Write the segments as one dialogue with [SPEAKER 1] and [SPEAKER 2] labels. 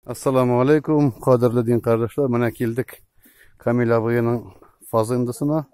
[SPEAKER 1] Ассаламу алейкум, кадерле дин кардәшләр. Менә килдек Камил абыеның фазындысына.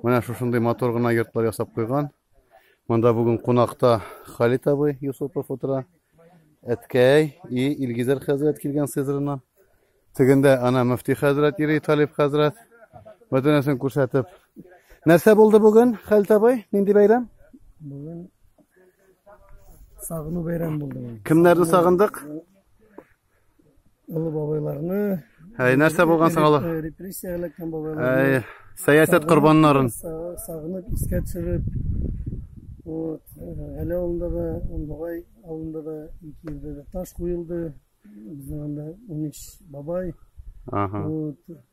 [SPEAKER 1] Менә шушындый матур гына йортлар ясап куйган. Монда бүген кунакта Халит абый Юсупов утыра. Әткәй и Илгизәр хәзрәт килгән сызрына. Тегендә ана мөфти хәзрәт ири Талиб хәзрәт. Бөтенесен күрсәтеп. Нәрсә булды бүген, Халит абый? Нинди бәйрәм? Бүген Сагыну бәйрәм булды. Кемнәрне сагындык? Олы бабайларны. Әй, нәрсә булган соң алар? Репрессия эләккән бабайлар. Әй, сәясәт корбаннарын. Сагынып, искә төшереп. Вот, әле авылында да, Ондугай авылында да ике елда да таш куелды. Безнең анда 13 бабай. Ага. Вот,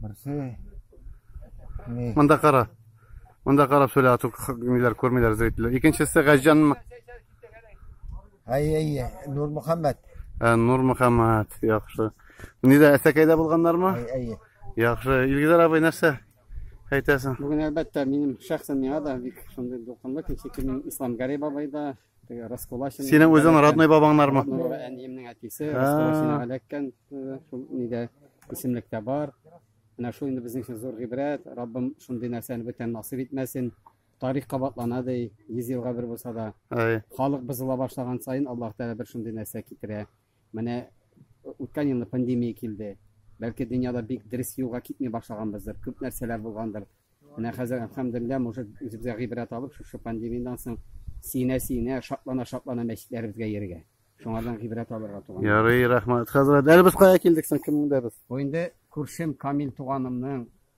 [SPEAKER 1] Берсе. Ни? Монда кара. Монда карап сөйлә, ату ниләр күрмиләр зрительләр. Икенчесе Газҗанмы? Әй, әй, Нур Мөхәммәт. Ә, Нур Мөхәммәт, яхшы. Нидә, Әсәкәйдә булганнармы? Әй, әй. Яхшы. Илгизәр абый нәрсә әйтәсең? Бүген әлбәттә минем шәхсән миңа да бик шундый дулкынлы кичә килен Ислам Гари бабай да, Теге Раскулачин. Синең үзең родной бабаңнармы? Әниемнең әтисе Раскулашинга эләккән шул нидә исемлектә бар. Менә шул инде безнең өчен зур гыйбрәт. Раббым шундый нәрсәне бүтән насыйп итмәсен. Тарих кабатлана ди, 100 елга бер булса да. Халык бозыла башлаган саен Аллаһ Тәгалә бер шундый нәрсә китерә. Менә үткән елны пандемия килде. Бәлки дөньяда бик дөрес юлга китми башлаганбыздыр, күп нәрсәләр булгандыр. Менә хәзер, әлхәмдүлилләһ, может, үзебезгә гыйбрәт алып, шушы пандемиядән соң сөенә-сөенә, шатлана-шатлана мәчетләребезгә йөрергә. Шуңардан гыйбрәт алырга туган. Ярый, рәхмәт, хәзрәт. Әле без кая килдек соң, кемнең дә без? Бу инде күршем Камил туганымның